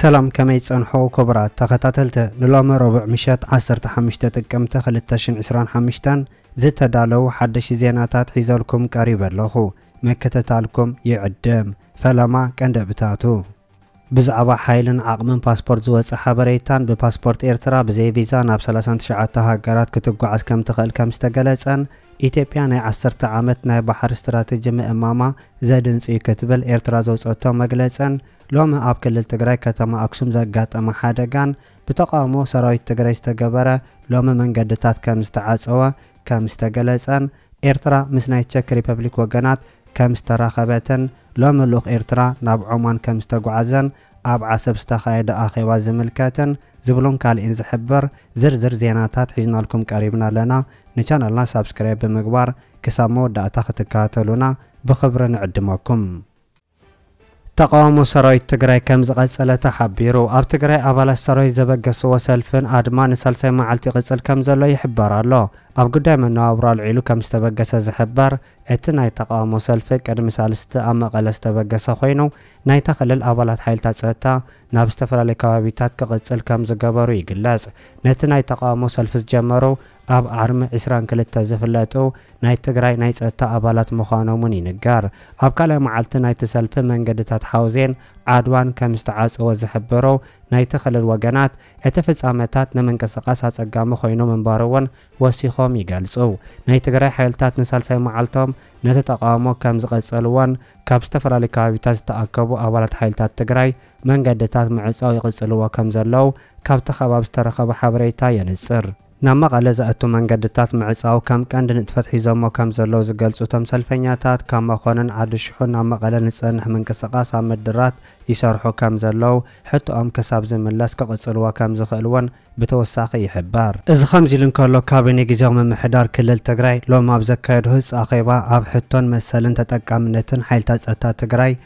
ሰላም ከመይ ጸንሖ ኮቡራት ተኸታተልቲ ንሎሚ ረቡዕ ምሸት ዓሰርተ ሓሙሽተ ጥቅምቲ ክልተ ሽሕን ዕስራን ሓምሽተን ዝተዳለው ሓደሽ ዜናታት ሒዘልኩም ቀሪበ ኣለኹ ምክትታልኩም ይዕድም ፈለማ ቀንደብታቱ ብዛዕባ ሓይልን ዓቕምን ፓስፖርት ዝወጸ ሓበሬታን ብፓስፖርት ኤርትራ ብዘይ ቪዛ ናብ ሰላሳን ትሽዓተ ሃገራት ክትጓዓዝ ከምትኽእል ከምዝተገለጸን ኢትዮጵያ ናይ ዓሰርተ ዓመት ናይ ባሕሪ ስትራቴጂ ምእማማ ዘድንጽ'ዩ ክትብል ኤርትራ ዘውጸቶ መግለጽን ሎሚ ኣብ ክልል ትግራይ ከተማ ኣክሱም ዘጋጠመ ሓደጋን ብተቓውሞ ሰራዊት ትግራይ ዝተገበረ ሎሚ መንገድታት ከምዝተዓጸወ ከም ዝተገለጸን፣ ኤርትራ ምስ ናይ ቸክ ሪፐብሊክ ወገናት ከም ዝተራኸበትን፣ ሎሚ ልኡኽ ኤርትራ ናብ ዖማን ከም ዝተጓዕዘን፣ ኣብ ዓሰብ ዝተኻየደ ኣኼባ ዝምልከትን ዝብሉን ካልእን ዝሕብር ዝርዝር ዜናታት ሒዝናልኩም ቀሪብና ኣለና። ንቻነልና ሳብስክራይብ ብምግባር ክሳብ መወዳእታ ክትከታተሉና ብኽብሪ ንዕድመኩም። ተቓውሞ ሰራዊት ትግራይ ከምዝቐፀለ ተሓቢሩ። ኣብ ትግራይ ኣባላት ሰራዊት ዘበገስዎ ሰልፍን ኣድማ ንሳልሳይ መዓልቲ ይቕፅል ከምዘሎ ይሕበር ኣሎ። ኣብ ጉዳይ መነባብሮ ኣልዒሉ ከምዝተበገሰ ዝሕበር እቲ ናይ ተቓውሞ ሰልፊ ቅድሚ ሳልስቲ ኣብ መቐለ ዝተበገሰ ኮይኑ ናይታ ክልል ኣባላት ሓይልታት ፀጥታ ናብ ዝተፈላለዩ ከባቢታት ክቕፅል ከምዝገበሩ ይግለፅ። ነቲ ናይ ተቓውሞ ሰልፊ ዝጀመሩ ኣብ ዓርሚ ዕስራን ክልተ ዝፍለጡ ናይ ትግራይ ናይ ፀጥታ ኣባላት ምዃኖም እውን ይንገር። ኣብ ካልኣይ መዓልቲ ናይቲ ሰልፊ መንገድታት ሓውዜን ዓድዋን ከም ዝተዓፀወ ዝሕብሩ ናይቲ ክልል ወገናት እቲ ፍፃመታት ንምንቅስቓስ ኣፀጋሚ ኮይኑ ምንባሩ እውን ወሲኾም ይገልፁ። ናይ ትግራይ ሓይልታት ንሳልሳይ መዓልቶም ነቲ ተቓውሞ ከም ዝቐፀልዎን ካብ ዝተፈላለዩ ከባቢታት ዝተኣከቡ ኣባላት ሓይልታት ትግራይ መንገድታት ምዕፃው ይቕፅልዎ ከም ዘለዉ ካብቲ ከባቢ ዝተረኸበ ሓበሬታ የንፅር። ናብ መቐለ ዘእቱ መንገድታት ምዕፃው ከም ቀንዲ ንጥፈት ሒዞሞ ከም ዘለዉ ዝገልፁ እቶም ሰልፈኛታት፣ ካብ መኾነን ዓዲ ሽሑ ናብ መቐለ ንዝፀንሕ ምንቅስቓስ ኣብ ምድራት ይሰርሑ ከም ዘለዉ፣ ሕቶኦም ክሳብ ዝምለስ ክቕፅልዎ ከም ዝኽእል እውን ብተወሳኺ ይሕበር። እዚ ከምዚ ኢሉ እንከሎ፣ ካቢኔ ግዝያዊ ምምሕዳር ክልል ትግራይ ሎሚ ኣብ ዘካየዶ ህፁፅ ኣኼባ ኣብ ሕቶን መሰልን ተጠቃምነትን ሓይልታት ፀጥታ ትግራይ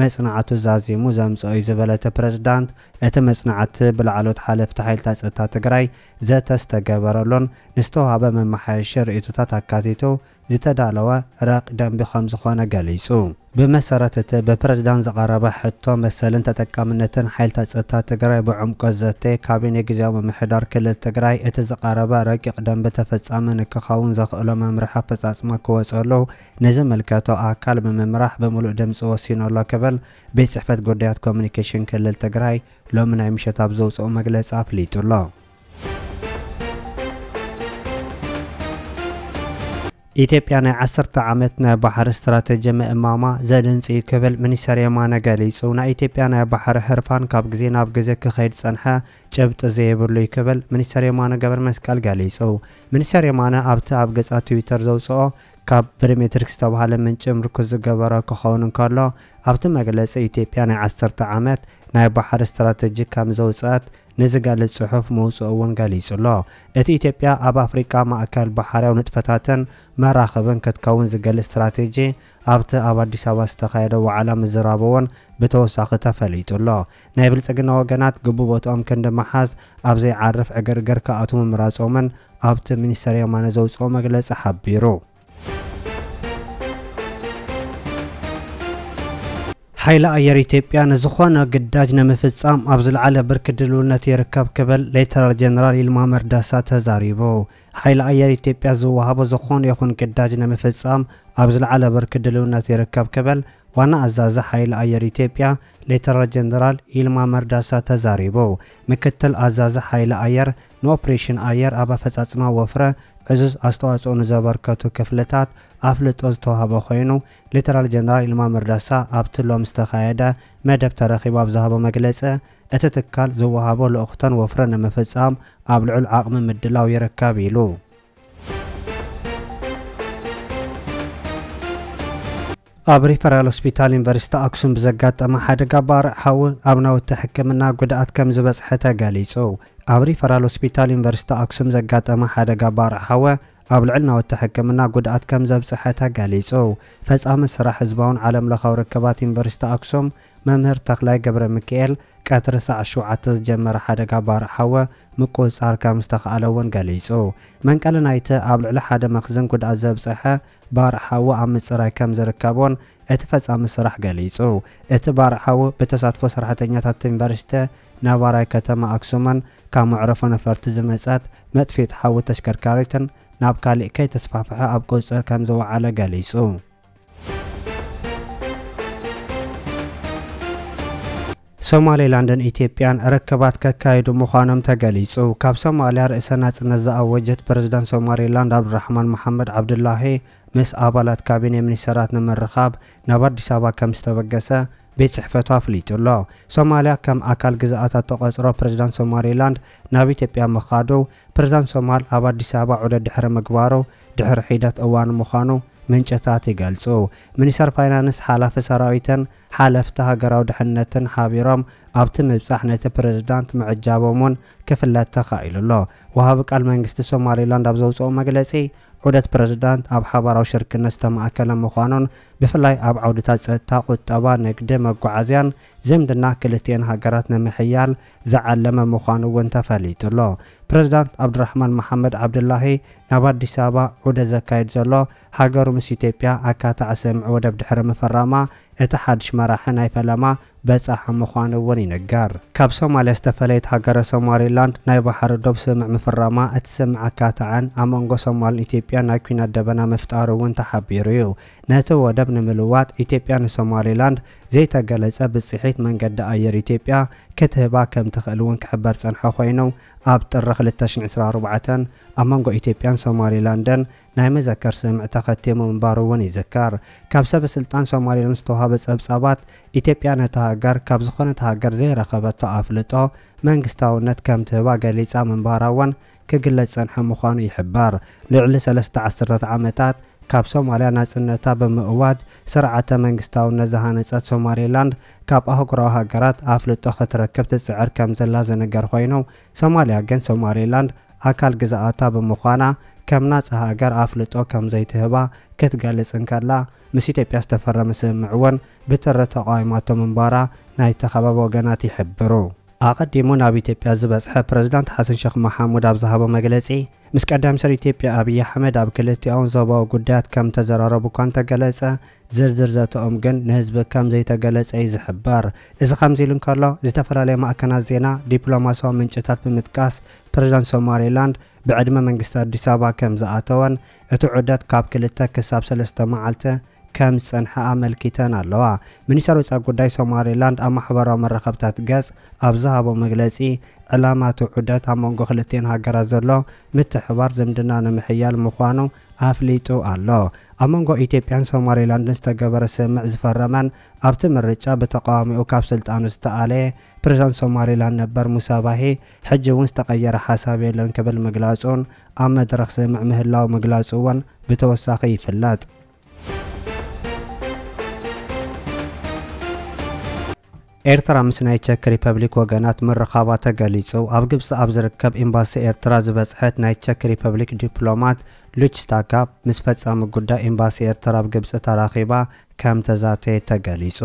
መጽናዕቱ ዛዚሙ ዘምጽኦ'ዩ ዝበለ እቲ ፕረዚዳንት፣ እቲ መጽናዕቲ ብላዕለዎት ሓለፍቲ ሓይልታት ጸጥታ ትግራይ ዘተ ዝተገበረሉን ንዝተውሃበ መመሓየሺ ርእይቶታት ኣካቲቱ ዝተዳለወ ረቂቕ ደንቢ ከምዝኾነ ገሊጹ። ብመሰረት እቲ ብፕረዚዳንት ዝቐረበ ሕቶ፣ መሰልን ተጠቃምነትን ሓይልታት ጸጥታ ትግራይ ብዕምቆት ዝዘተየ ካቢኔ ግዝያዊ ምምሕዳር ክልል ትግራይ፣ እቲ ዝቐረበ ረቂቕ ደንቢ ተፈጻሚ ንክኸውን ዘኽእሎ መምርሒ ኣፈጻጽማ ክወጸሉ ንዝምልከቶ ኣካል ብምምራሕ ብምሉእ ድምፂ ወሲኑ ኣሎ ክብል ቤት ፅሕፈት ጉዳያት ኮሙኒኬሽን ክልል ትግራይ ሎሚ ናይ ምሸት ኣብ ዘውፅኦ መግለፂ ኣፍሊጡ ኣሎ። ኢትዮጵያ ናይ ዓሰርተ ዓመት ናይ ባሕሪ ስትራተጂ ምእማማ ዘድንፅ እዩ ክብል ሚኒስተር የማነ ገሊፁ። ናይ ኢትዮጵያ ናይ ባሕሪ ህርፋን ካብ ግዜ ናብ ግዜ ክኸይድ ዝፀንሐ ጭብጢ ዘይብሉ እዩ ክብል ሚኒስተር የማነ ገብረመስቀል ገሊፁ። ሚኒስተር የማነ ኣብቲ ኣብ ገፃ ትዊተር ዘውፅኦ ካብ ፕሪሜትሪክ ዝተብሃለ ምንጪ ምርኩስ ዝገበረ ክኸውን እንከሎ፣ ኣብቲ መግለጺ ኢትዮጵያ ናይ ዓሰርተ ዓመት ናይ ባሕሪ ስትራተጂ ከም ዘውጽኣት ንዝገልጽ ጽሑፍ ምውጽኡ እውን ገሊጹ'ሎ። እቲ ኢትዮጵያ ኣብ ኣፍሪቃ ማእከል ባሕርያዊ ንጥፈታትን መራኽብን ክትከውን ዝገልጽ ስትራቴጂ ኣብቲ ኣብ ኣዲስ ኣበባ ዝተኻየደ ዋዕላ ምዝራቡ እውን ብተወሳኺ ተፈሊጡ'ሎ። ናይ ብልጽግና ወገናት ግቡእ ቦትኦም ክንዲ ምሓዝ ኣብ ዘይዓርፍ ዕግርግር ክኣትዉ ምምራጾምን ኣብቲ ሚኒስተር የማነ ዘውጽኦ መግለጺ ሓቢሩ። ሓይሊ ኣየር ኢትዮጵያ ንዝኾነ ግዳጅ ንምፍጻም ኣብ ዝለዓለ ብርኪ ድልውነት ይርከብ ክብል ሌተናል ጀነራል ይልማ መርዳሳ ተዛሪቡ። ሓይሊ ኣየር ኢትዮጵያ ዝወሃቦ ዝኾነ ይኹን ግዳጅ ንምፍፃም ኣብ ዝለዓለ ብርኪ ድልውነት ይርከብ ክብል ዋና ኣዛዚ ሓይሊ ኣየር ኢትዮጵያ ሌተናል ጀነራል ይልማ መርዳሳ ተዛሪቡ። ምክትል ኣዛዚ ሓይሊ ኣየር ንኦፕሬሽን ኣየር ኣብ ኣፈፃፅማ ወፍሪ ዕዙዝ ኣስተዋፅኦ ንዘበርከቱ ክፍልታት ኣፍልጦ ዝተውሃበ ኮይኑ ሌተናል ጀነራል ይልማ መርዳሳ ኣብቲ ሎሚ ዝተኻየደ መደብ ተረኺቡ ኣብ ዝሃቦ መግለፂ እቲ ትካል ዝወሃቦ ልኡኽቶን ወፍርን ንምፍፃም ኣብ ልዑል ዓቕሚ ምድላው ይርከብ ኢሉ። ኣብ ሪፈራል ሆስፒታል ዩኒቨርሲቲ ኣክሱም ብዘጋጠመ ሓደጋ ባርዕ ሓዊ ኣብ ናውቲ ሕክምና ጉድኣት ከም ዝበፅሐ ተገሊፁ። ኣብ ሪፈራል ሆስፒታል ዩኒቨርሲቲ ኣክሱም ዘጋጠመ ሓደጋ ባርዕ ሓዊ ኣብ ልዕሊ ናውቲ ሕክምና ጉድኣት ከም ዘብፅሐ ተገሊፁ። ፈፃሚ ስራሕ ህዝባውን ዓለም ለኻዊ ርክባት ዩኒቨርሲቲ ኣክሱም መምህር ተኽላይ ገብረሚኪኤል፣ ቀትሪ ሰዓት ሸውዓተ ዝጀመረ ሓደጋ ባርዕ ሓወ ምቁጽጻር ከም ዝተኽኣለ'ውን ገሊጹ። መንቀሊ ናይቲ ኣብ ልዕሊ ሓደ መኽዝን ጉድኣት ዘብጸሐ ባርዕ ሓዊ ኣብ ምጽራይ ከም ዝርከብ'ውን እቲ ፈጻሚ ስራሕ ገሊጹ። እቲ ባርዕ ሓዊ ብተሳትፎ ሰራሕተኛታት ቲንቨርስተ ነባራይ ከተማ ኣክሱምን ካብ መዕረፎ ነፈርቲ ዝመጸት መጥፊኢት ሓዊ ተሽከርካሪትን ናብ ካሊእ ከይተስፋሕፍሐ ኣብ ቁጽጽር ከም ዝወዓለ ገሊጹ። ሶማሌላንድን ኢትዮጵያን ርክባት ከካይዱ ምዃኖም ተገሊጹ። ካብ ሶማልያ ርእሰ ናጽነት ዝኣወጀት ፕረዚደንት ሶማሌላንድ ዓብዱራሕማን መሓመድ ዓብዱላሂ ምስ ኣባላት ካቢኔ ሚኒስተራት ንምርኻብ ናብ ኣዲስ ኣበባ ከም ዝተበገሰ ቤት ጽሕፈቱ ኣፍሊጡ ኣሎ። ሶማልያ ከም ኣካል ግዝኣታት ተቖጽሮ ፕሬዚዳንት ሶማሌላንድ ናብ ኢትዮጵያ ምኻዱ ፕሬዚዳንት ሶማል ኣብ ኣዲስ ኣበባ ዑደት ድሕሪ ምግባሩ ድሕሪ ሒደት እዋን ምዃኑ ምንጭታት ይገልጹ። ሚኒስተር ፋይናንስ፣ ሓላፊ ሰራዊትን ሓለፍቲ ሃገራዊ ድሕነትን ሓቢሮም ኣብቲ ምብጻሕ ነቲ ፕረዚዳንት ምዕጃቦም'ውን ክፍለጥ ተኻኢሉ ኣሎ። ወሃቢ ቃል መንግስቲ ሶማሊላንድ ኣብ ዘውጽኦ መግለጺ፣ ዑደት ፕረዚዳንት ኣብ ሓባራዊ ሽርክነት ዝተማእከለ ምዃኑን ብፍላይ ኣብ ዓውድታት ጸጥታ፣ ቁጠባ፣ ንግዲ፣ መጓዓዝያን ዝምድና ክልቲኤን ሃገራት ንምሕያል ዝዓለመ ምዃኑ እውን ተፈሊጡ ኣሎ። ፕረዚዳንት ዓብዱራሕማን መሓመድ ዓብዱላሂ ናብ ኣዲስ ኣበባ ዑደት ዘካይድ ዘሎ፣ ሃገሩ ምስ ኢትዮጵያ ኣካታዒ ስምምዕ ወደብ ድሕሪ ምፍራማ እቲ ሓድሽ መራሒ ናይ ፈለማ በጻሒ ምዃኑ እውን ይንገር። ካብ ሶማልያ ዝተፈለየት ሃገረ ሶማሊላንድ ናይ ባሕሪ ዶብ ስምምዕ ምፍራማ እቲ ስምምዕ ኣካተዐን ኣብ መንጎ ሶማልን ኢትዮጵያን ናይ ኲናት ደበና ምፍጣሩ እውን ተሓቢሩ እዩ። ነቲ ወደብ ንምልዋጥ ኢትዮጵያ ንሶማሊላንድ ዘይተገለፀ ብፅሒት መንገዲ ኣየር ኢትዮጵያ ክትህባ ከምትኽእል እውን ክሕበር ዝፀንሐ ኾይኑ ኣብ ጥሪ ክልተ ሽሕ ዕስራን ኣርባዕተን ኣብ መንጎ ኢትዮጵያን ሶማሊላንድን ናይ መዘከር ስምምዕ ተኸቲሙ ምንባሩ እውን ይዝከር። ካብ ሰበ ስልጣን ሶማሊላንድ ዝተውሃበ ፀብፃባት ኢትዮጵያ ነታ ሃገር ካብ ዝኾነት ሃገር ዘይረኸበቶ ኣፍልጦ መንግስታውነት ከምትህባ ገሊፃ ምንባራ እውን ክግለጽ ዝጸንሐ ምዃኑ ይሕበር። ልዕሊ ሰለስተ ዓሰርታት ዓመታት ካብ ሶማልያ ናጽነታ ብምእዋጅ ስርዓተ መንግስታውነት ዝሃነጸት ሶማሌላንድ ካብ ኣህጉራዊ ሃገራት ኣፍልጦ ክትረክብ ትጽዕር ከም ዘላ ዝንገር ኮይኑ ሶማልያ ግን ሶማሌላንድ ኣካል ግዝኣታ ብምዃና ከም ናጻ ሃገር ኣፍልጦ ከም ዘይትህባ ክትገልጽ እንከላ ምስ ኢትዮጵያ ዝተፈረመ ስምምዕ እውን ብትሪ ተቓዊማቶ ምንባራ ናይቲ ከባቢ ወገናት ይሕብሩ። ኣቐዲሙ ናብ ኢትዮጵያ ዝበጽሐ ፕረዚዳንት ሓሰን ሸኽ መሓሙድ ኣብ ዝሃቦ መግለጺ፣ ምስ ቀዳማይ ሚኒስተር ኢትዮጵያ ኣብይ ኣሕመድ ኣብ ክልቲኣውን ዞባዊ ጉዳያት ከም እተዘራረቡ እኳ እንተገለጸ፣ ዝርዝር ዘተኦም ግን ንህዝቢ ከም ዘይተገለጸ'ዩ ዝሕበር። እዚ ከምዚ ኢሉ እንከሎ፣ ዝተፈላለያ ማዕከናት ዜና ዲፕሎማስያዊ ምንጭታት ብምጥቃስ፣ ፕረዚዳንት ሶማሌላንድ ብዕድመ መንግስቲ ኣዲስ ኣበባ ከም ዝኣተወን፣ እቲ ዑደት ካብ ክልተ ክሳብ ሰለስተ መዓልቲ ከም ዝጸንሐ ኣመልኪተን ኣለዋ። ሚኒስተር ወጻኢ ጉዳይ ሶማሊላንድ ኣብ ማሕበራዊ መራኸብታት ገጽ ኣብ ዝሃቦ መግለጺ፣ ዕላማ'ቲ ዑደት ኣብ መንጎ ክልቲኤን ሃገራት ዘሎ ምትሕብባር ዝምድና ንምሕያል ምዃኑ ኣፍሊጡ ኣሎ። ኣብ መንጎ ኢትዮጵያን ሶማሊላንድን ዝተገበረ ስምምዕ ዝፈረመን ኣብቲ ምርጫ ብተቓዋሚኡ ካብ ስልጣኑ ዝተኣለየ ፕሬዝዳንት ሶማሊላንድ ነበር ሙሳ ባሂ ሕጂ'ውን ዝተቐየረ ሓሳብ የለን ክብል ምግላጹን ኣብ መድረኽ ስምምዕ ምህላዉ ምግላጹ'ውን ብተወሳኺ ይፍለጥ። ኤርትራ ምስ ናይ ቸክ ሪፐብሊክ ወገናት ምርኻባ ተገሊጹ። ኣብ ግብጺ ኣብ ዝርከብ ኤምባሲ ኤርትራ ዝበጽሐት ናይ ቸክ ሪፐብሊክ ዲፕሎማት ሉችታ ጋፕ ምስ ፈጻሚ ጉዳይ ኤምባሲ ኤርትራ ኣብ ግብጺ ተራኺባ ከም ተዛተየት ተገሊጹ።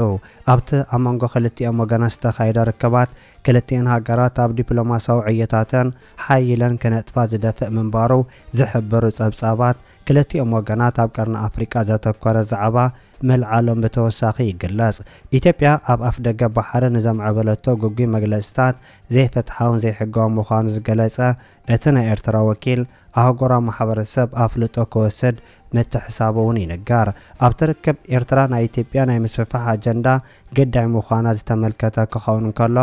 ኣብቲ ኣብ መንጎ ክልቲኦም ወገናት ዝተኻየደ ርክባት ክልቲኤን ሃገራት ኣብ ዲፕሎማስያዊ ዕዮታተን ሓዪለን ክነጥፋ ዝደፍእ ምንባሩ ዝሕብሩ ጸብጻባት፣ ክልቲኦም ወገናት ኣብ ቀርኒ ኣፍሪቃ ዘተኮረ ዛዕባ ምልዓሎም ብተወሳኺ ይግለጽ። ኢትዮጵያ ኣብ ኣፍደገ ባሕሪ ንዘምዕበለቶ ግጉይ መግለጺታት ዘይፍትሓውን ዘይሕጋውን ምዃኑ ዝገለጸ እቲ ናይ ኤርትራ ወኪል፣ ኣህጉራዊ ማሕበረሰብ ኣፍልጦ ክወስድ ምትሕሳቡ'ውን ይንገር። ኣብቲ ርክብ ኤርትራ ናይ ኢትዮጵያ ናይ ምስፍሕፋሕ ኣጀንዳ ግዳይ ምዃና ዝተመልከተ ክኸውን እንከሎ፣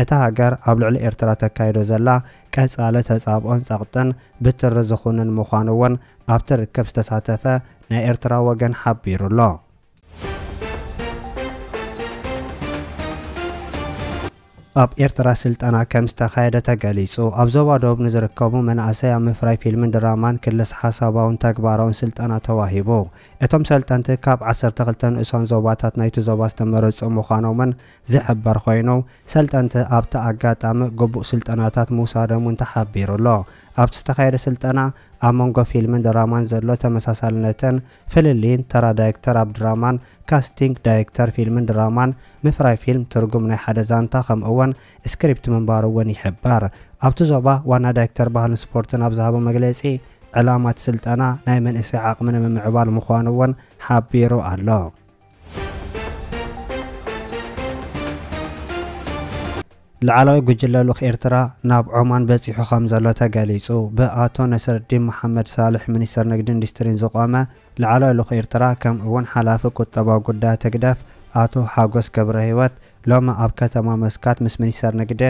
እታ ሃገር ኣብ ልዕሊ ኤርትራ ተካይዶ ዘላ ቀጻሊ ተጻብኦን ጸቕጥን ብትሪ ዝኹንን ምዃኑ እውን ኣብቲ ርክብ ዝተሳተፈ ናይ ኤርትራ ወገን ሓቢሩ ኣሎ። ኣብ ኤርትራ ስልጠና ከም ዝተኻየደ ተገሊጹ። ኣብ ዞባ ዶብ ንዝርከቡ መናእሰይ ኣብ ምፍራይ ፊልምን ድራማን፣ ክልሰ-ሓሳባውን ተግባራውን ስልጠና ተዋሂቡ። እቶም ሰልጠንቲ ካብ ዓሰርተ ክልተ ንኡሳን ዞባታት ናይቲ ዞባ ዝተመረጹ ምዃኖምን ዝሕበር ኮይኑ፣ ሰልጠንቲ ኣብቲ ኣጋጣሚ ግቡእ ስልጠናታት ምውሳዶም'ውን ተሓቢሩ'ሎ። ኣብቲ ዝተኻየደ ስልጠና፣ ኣብ መንጎ ፊልምን ድራማን ዘሎ ተመሳሳልነትን ፍልልይን፣ ተራ ዳይክተር ኣብ ድራማን ካስቲንግ ዳይክተር ፊልምን ድራማን፣ ምፍራይ ፊልም ትርጉም ናይ ሓደ ዛንታ ከምኡ'ውን ስክሪፕት ምንባሩ'ውን ይሕበር። ኣብቲ ዞባ ዋና ዳይክተር ባህልን ስፖርትን ኣብ ዝሃቦ መግለጺ፣ ዕላማ እቲ ስልጠና ናይ መንእሰይ ዓቕሚ ንምምዕባል ምዃኑ'ውን ሓቢሩ ኣሎ። ላዕለዋይ ጉጅለ ልኡኽ ኤርትራ ናብ ዖማን በጺሑ ከምዘሎ ተገሊጹ። ብኣቶ ነስረዲን መሓመድ ሳልሕ ሚኒስተር ንግድን ኢንዱስትሪን ዝቖመ ላዕለዋይ ልኡኽ ኤርትራ ከምኡ'ውን ሓላፊ ቁጠባዊ ጉዳያት ህግደፍ ኣቶ ሓጎስ ገብረሂወት ሎሚ ኣብ ከተማ መስካት ምስ ሚኒስተር ንግዲ፣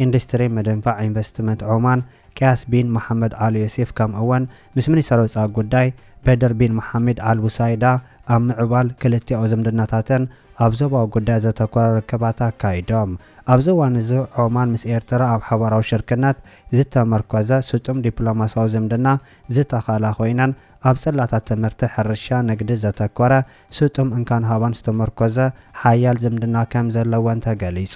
ኢንዱስትሪን ምድንፋዕ ኢንቨስትመንት ዖማን ቅያስ ቢን መሓመድ ኣል ዮሴፍ ከም እወን ምስ ሚኒስተር ወጻኢ ጉዳይ በድር ቢን መሓሚድ ኣል ቡሳይዳ ኣብ ምዕባል ክልቲኣዊ ዝምድናታተን ኣብ ዞባዊ ጉዳያት ዘተኮረ ርክባት ኣካይዶም። ኣብዚ እዋን እዚ ዖማን ምስ ኤርትራ ኣብ ሓባራዊ ሽርክነት ዝተመርኮዘ ስጡም ዲፕሎማስያዊ ዝምድና ዝተኸላ ኮይነን ኣብ ጽላታት ትምህርቲ፣ ሕርሻ፣ ንግዲ ዘተኮረ ስጡም እንካን ሃባን ዝተመርኮዘ ሓያል ዝምድና ከም ዘለወን ተገሊጹ።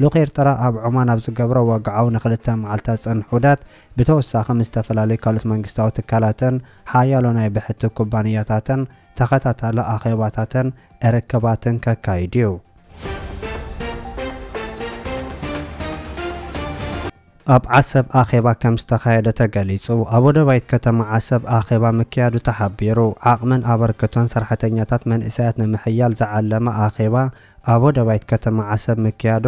ልኡኽ ኤርትራ ኣብ ዖማን ኣብ ዝገብሮ ወግዓዊ ንክልተ መዓልታት ዝጸንሕ ዑደት፣ ብተወሳኺ ምስ ዝተፈላለዩ ካልኦት መንግስታዊ ትካላትን ሓያሎ ናይ ብሕቲ ኩባንያታትን ተኸታታሊ ኣኼባታትን ርክባትን ከካይድ'ዩ። ኣብ ዓሰብ ኣኼባ ከም ዝተኻየደ ተገሊፁ። ኣብ ወደባይት ከተማ ዓሰብ ኣኼባ ምክያዱ ተሓቢሩ። ዓቕምን ኣበርክቶን ሰርሐተኛታት መንእሰያት ንምሕያል ዝዓለመ ኣኼባ ኣብ ወደባይት ከተማ ዓሰብ ምክያዱ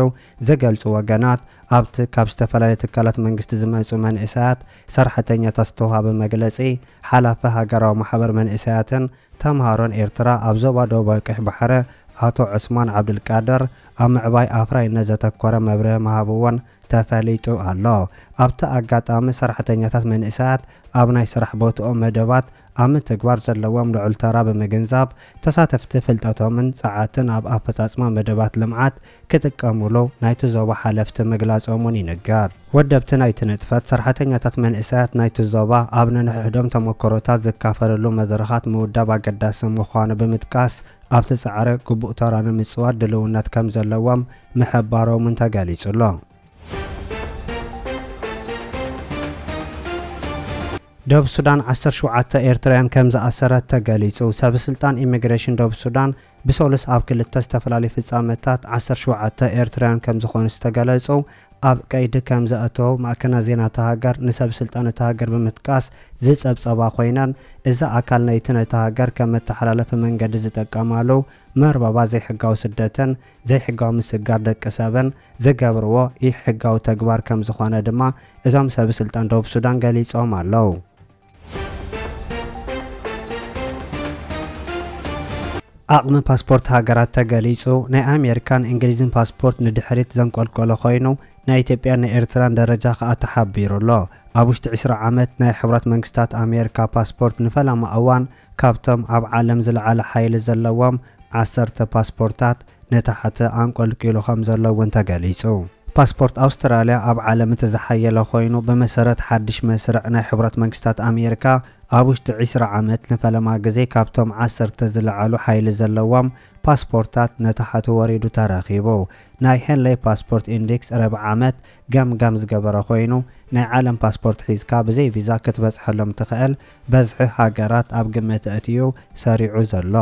ዝገልፁ ወገናት ኣብቲ ካብ ዝተፈላለየ ትካላት መንግስቲ ዝመፁ መንእሰያት ሰርሐተኛታት ዝተውሃበ መግለፂ ሓላፊ ሃገራዊ ማሕበር መንእሰያትን ተምሃሮን ኤርትራ ኣብ ዞባ ደቡባዊ ቀይሕ ባሕሪ ኣቶ ዑስማን ዓብዱልቃድር ኣብ ምዕባይ ኣፍራይነት ዘተኮረ መብርሂ ምሃብዎን ተፈሊጡ ኣሎ። ኣብቲ ኣጋጣሚ ሰራሕተኛታት መንእሰያት ኣብ ናይ ስራሕ ቦትኦም መደባት ኣብ ምትግባር ዘለዎም ልዑል ተራ ብምግንዛብ ተሳተፍቲ ፍልጠቶምን ጸዓትን ኣብ ኣፈጻጽማ መደባት ልምዓት ክጥቀሙሉ ናይቲ ዞባ ሓለፍቲ ምግላጾም'ውን ይንገር። ወደብቲ ናይቲ ንጥፈት ሰራሕተኛታት መንእሰያት ናይቲ ዞባ ኣብ ነንሕሕዶም ተሞክሮታት ዝካፈልሉ መድረኻት ምውዳብ ኣገዳሲ ምዃኑ ብምጥቃስ፣ ኣብቲ ጻዕሪ ግቡእ ተራ ንምጽዋት ድልውነት ከም ዘለዎም ምሕባሮምን ተገሊጹ ኣሎ። ደቡብ ሱዳን ዓሰርተ ሸውዓተ ኤርትራውያን ከም ዝኣሰረት ተገሊጹ። ሰበስልጣን ኢሚግሬሽን ደቡብ ሱዳን ብሰሉስ ኣብ ክልተ ዝተፈላለዩ ፍጻመታት ዓሰርተ ሸውዓተ ኤርትራውያን ከም ዝኾኑ ዝተገለጹ ኣብ ቀይዲ ከም ዘእተዉ ማዕከናት ዜና እታ ሃገር ንሰብ ስልጣን እታ ሃገር ብምጥቃስ ዝጸብጸባ ኮይነን፣ እዚ ኣካል ናይቲ ነታ ሃገር ከም መተሓላለፊ መንገዲ ዝጥቀማሉ መርበባት ዘይሕጋዊ ስደትን ዘይሕጋዊ ምስግጋር ደቂ ሰብን ዝገብርዎ ኢ-ሕጋዊ ተግባር ከም ዝኾነ ድማ እቶም ሰብስልጣን ደቡብ ሱዳን ገሊጾም ኣለዉ። ዓቕሚ ፓስፖርት ሃገራት ተገሊጹ። ናይ ኣሜሪካን እንግሊዝን ፓስፖርት ንድሕሪት ዘንቆልቆለ ኮይኑ፣ ናይ ኢትዮጵያን ናይ ኤርትራን ደረጃ ከኣ ተሓቢሩ ኣሎ። ኣብ ውሽጢ ዕስራ ዓመት ናይ ሕቡራት መንግስታት ኣሜሪካ ፓስፖርት ንፈለማ እዋን ካብቶም ኣብ ዓለም ዝለዓለ ሓይሊ ዘለዎም ዓሰርተ ፓስፖርታት ንታሕቲ ኣንቆልቂሉ ከምዘሎ እውን ተገሊፁ። ፓስፖርት ኣውስትራልያ ኣብ ዓለም እቲ ዝሓየለ ኮይኑ ብመሰረት ሓድሽ መስርዕ ናይ ሕቡራት መንግስታት ኣሜሪካ ኣብ ውሽጢ ዕስራ ዓመት ንፈለማ ግዜ ካብቶም ዓሰርተ ዝለዓሉ ሓይሊ ዘለዎም ፓስፖርታት ንታሕቲ ወሪዱ ተረኺቡ። ናይ ሄንለይ ፓስፖርት ኢንዴክስ ረብዒ ዓመት ገምጋም ዝገበረ ኮይኑ ናይ ዓለም ፓስፖርት ሒዝካ ብዘይ ቪዛ ክትበፅሐሎም ትኽእል በዝሒ ሃገራት ኣብ ግምት ኣእትዩ ሰሪዑ ዘሎ።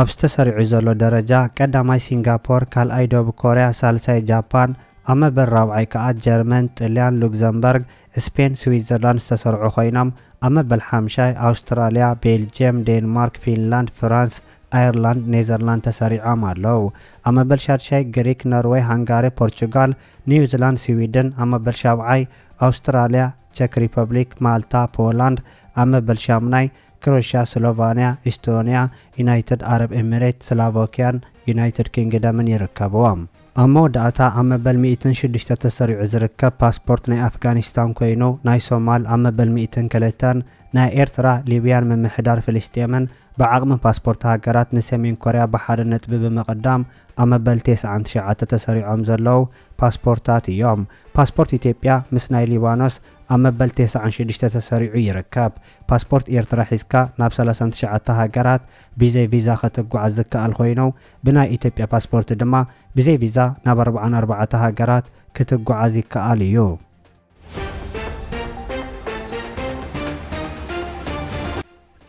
ኣብ'ዚ ተሰሪዑ ዘሎ ደረጃ፣ ቀዳማይ ሲንጋፖር፣ ካልኣይ ደቡብ ኮርያ፣ ሳልሳይ ጃፓን፣ ኣብ መበል ራብዓይ ከኣ ጀርመን፣ ጥልያን፣ ሉግዘምበርግ፣ ስፔን፣ ስዊትዘርላንድ ዝተሰርዑ ኮይኖም፣ ኣብ መበል ሓምሻይ ኣውስትራልያ፣ ቤልጅየም፣ ዴንማርክ፣ ፊንላንድ፣ ፍራንስ፣ ኣየርላንድ፣ ኔዘርላንድ ተሰሪዖም ኣለው። ኣብ መበል ሻድሻይ ግሪክ፣ ኖርወይ፣ ሃንጋሪ፣ ፖርቹጋል፣ ኒውዚላንድ፣ ስዊድን፣ ኣብ መበል ሻብዓይ ኣውስትራልያ፣ ቸክ ሪፐብሊክ፣ ማልታ፣ ፖላንድ፣ ኣብ መበል ሻሙናይ፣ ክሮሽያ፣ ስሎቫንያ፣ ኢስቶንያ፣ ዩናይትድ ዓረብ ኤሚሬት፣ ስላቮክያን ዩናይትድ ኪንግደምን ይርከብዎም። ኣብ መወዳእታ ኣብ መበል ሚእትን ሽዱሽተ ተሰሪዑ ዝርከብ ፓስፖርት ናይ ኣፍጋኒስታን ኮይኑ፣ ናይ ሶማል ኣብ መበል ሚእትን ክልተን፣ ናይ ኤርትራ፣ ሊብያን ምምሕዳር ፍልስጤምን ብዓቕሚ ፓስፖርት ሃገራት ንሰሜን ኮርያ ብሓደ ነጥቢ ብምቕዳም ኣብ መበል ቴስዓን ትሽዓተ ተሰሪዖም ዘለዉ ፓስፖርታት እዮም። ፓስፖርት ኢትዮጵያ ምስ ናይ ሊባኖስ ኣብ መበል ቴስዓን ሽዱሽተ ተሰሪዑ ይርከብ። ፓስፖርት ኤርትራ ሒዝካ ናብ ሰላሳን ትሽዓተ ሃገራት ብዘይ ቪዛ ከትጓዓዝ ዝከኣል ኮይኑ ብናይ ኢትዮጵያ ፓስፖርት ድማ ብዘይ ቪዛ ናብ ኣርብዓን ኣርባዕተ ሃገራት ክትጓዓዝ ይከኣል እዩ።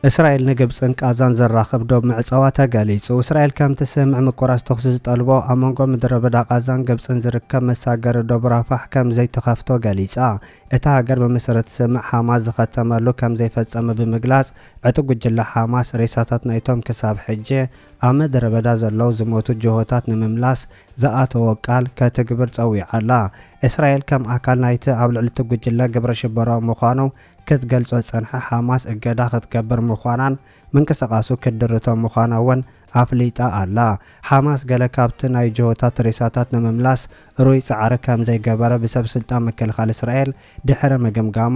እስራኤል ንግብጽን ቃዛን ዘራኽብ ዶብ ምዕጻዋ ተገሊጹ። እስራኤል ከም ትስምዕ ምቁራጽ ተኹሲ ዝጠልቦ ኣብ መንጎ ምድረበዳ ቃዛን ግብጽን ዝርከብ መሳገሪ ዶብ ራፋሕ ከም ዘይትኸፍቶ ገሊጻ። እታ ሃገር ብመሰረት ስምዕ ሓማስ ዝኸተመሉ ከም ዘይፈጸመ ብምግላጽ ዕጡቕ ጉጅለ ሓማስ ሬሳታት ናይቶም ክሳብ ሕጂ ኣብ ምድረበዳ ዘለዉ ዝሞቱ ጅሆታት ንምምላስ ዝኣተዎ ቃል ከትግብር ጸዊዓ'ላ። እስራኤል ከም ኣካል ናይቲ ኣብ ልዕሊ እቲ ጉጅለ ግብረ ሽበራዊ ምዃኑ ክትገልጾ ዝጸንሐ ሓማስ እገዳ ክትገብር ምዃናን ምንቅስቓሱ ክትድርቶ ምዃና እውን ኣፍሊጣ ኣላ። ሓማስ ገለ ካብቲ ናይ ጅሆታት ሬሳታት ንምምላስ ርኡይ ጻዕሪ ከም ዘይገበረ ብሰብ ስልጣን ምክልኻል እስራኤል ድሕሪ ምግምጋሙ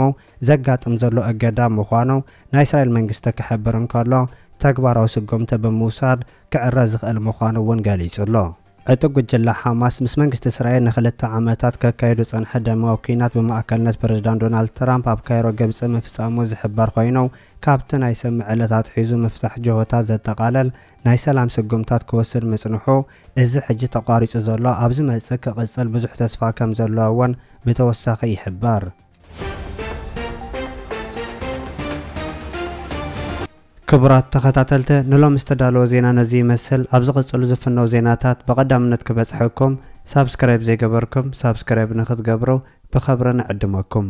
ዘጋጥም ዘሎ እገዳ ምዃኑ ናይ እስራኤል መንግስቲ ክሕብር እንከሎ ተግባራዊ ስጉምቲ ብምውሳድ ክዕረ ዝኽእል ምዃኑ እውን ገሊጹ ኣሎ። ዕጡቕ ጉጅለ ሓማስ ምስ መንግስቲ እስራኤል ንክልተ ዓመታት ከካይዶ ዝጸንሐ ደማዊ ኲናት ብማእከልነት ፕረዚዳንት ዶናልድ ትራምፕ ኣብ ካይሮ ግብጺ ምፍጻሙ ዝሕበር ኮይኑ ካብቲ ናይ ሰሙዕ ዕለት ኣትሒዙ ምፍታሕ ጅሆታት ዘጠቓለል ናይ ሰላም ስጉምታት ክወስድ ምጽንሑ እዚ ሕጂ ተቋሪጹ ዘሎ ኣብ ዝመጽእ ክቕጽል ብዙሕ ተስፋ ከም ዘለዎ'ውን ብተወሳኺ ይሕበር። ክቡራት ተኸታተልተ ንሎም ዝተዳለወ ዜና ነዚ ይመስል ኣብ ዝቕጽሉ ዝፍነው ዜናታት ብቐዳምነት ክበጽሐኩም ሳብስክራይብ ዘይገበርኩም ሳብስክራይብ ንክትገብሩ ብኸብሪ ንዕድመኩም